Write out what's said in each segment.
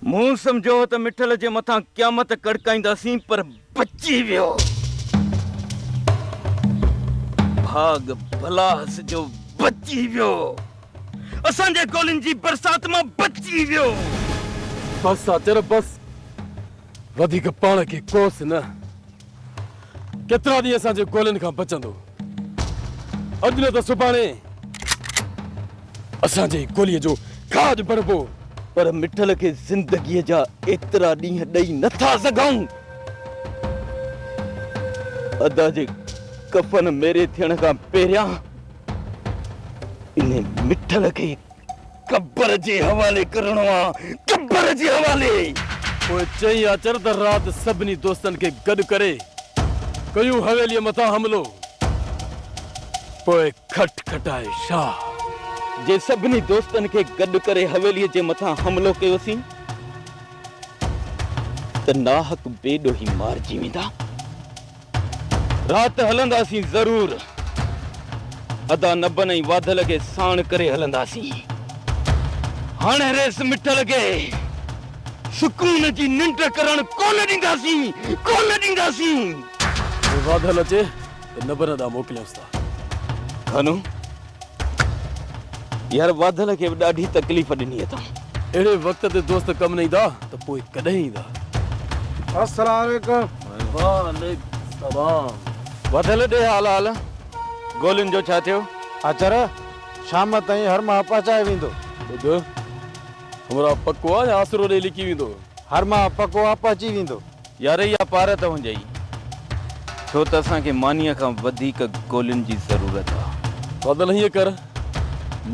مون سمجهيو هو ته مٺل جي مٿان قيامت ڪڙڪائينداسين پر بچي ويو. ڀاڳ ڀلا هئس جو بچي ويو. اسان جي گولين جي برسات مان بچي ويو. بس آچر بس وڌيڪ پاڻ کي ڪوس نه. ڪيترا ڏينهن اسان جي گولين کان بچندو؟ اڄ نه ته سڀاڻي اسان جي گوليء جو کاڄ بڻبو. پر مٺل کي زندگيء جا ايترا ڏينهن ڏئي نه ٿا سگهون. ادا جي ڪفن ميري ٿيڻ کان پهريان انهي مٺل کي قبر جي حوالي ڪرڻو آ قبر جي حوالي. پوء چئين آچر ته رات سڀني دوستن کي گڏ ڪري ڪيون حويليء مٿان حملو. پوء کٽ کٽائي شاهه. جي سڀني دوستن کي گڏ ڪري حويليء جي مٿان حملو ڪيوسين ته ناحق بي ڏوهي مارجي ويندا. رات هلنداسين ضرور. ادا نبن ۽ واڌل کي ساڻ ڪري هلنداسين. هاڻي ريس مٺ لڳي. سڪون جي ننڊ ڪرڻ ڪونه ڏينداسين. ڪونه ڏينداسين. جي واڌل اچي ته نبن ڏانهن موڪليونس ٿا. ڪانو! يار واڌل کي به ڏاڍي تڪليف ڏني اٿم. اهڙي وقت تي دوست ڪم نه ايندا ته پوء ڪڏهن ايندا. السلام عليڪم. وعليڪم السلام. واڌل ڏي حال حال. گولين جو ڇا ٿيو؟ اچر شام تائين هر ماهه پهچائي ويندو. ٻڌ همراهه پڪو آ يا آسرو ڏئي لڪي ويندو. هر ماهه پڪو آ پهچي ويندو. يار اها پار ته هنجي ئي ڇو ته اسان کي مانيء کان وڌيڪ گولين جي ضرورت آ. فضل هيئن ڪر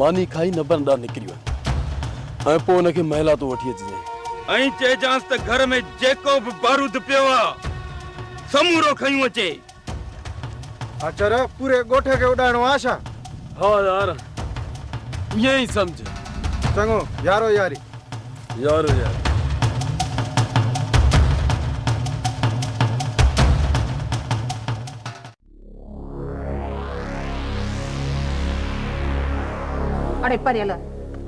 ماني کائي نبرن ڏانهن نڪري وڃ ۽ پوء ان کي محلات تون وٺي اچجانء. ائين چئجانس ته گهر ۾ جيڪو به بارود پيو آ سمورو کنيون اچي. اچر پوري ڳوٺ کي اڏائڻو آ ڇا؟ ها يار ائين ئي سمجهه. چڱو يارو ياري. يارو ياري. اڙي پريل،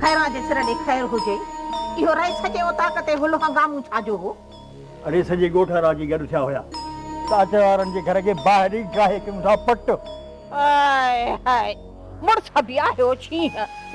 خيران جي سر ڏي خير هجي. اهو رئيس جي اوطاق تي هلو هنگامون ڇا جو هو؟ اڙي سڄي ڳوٺ وارا اچي گڏ ٿيا هيا ته اچ وارن جي گهر کي باهه ڏئي ڊاهي ڪيون ٿا پٽ. هاء هاء مڙس ابي آهيو ڇينهن.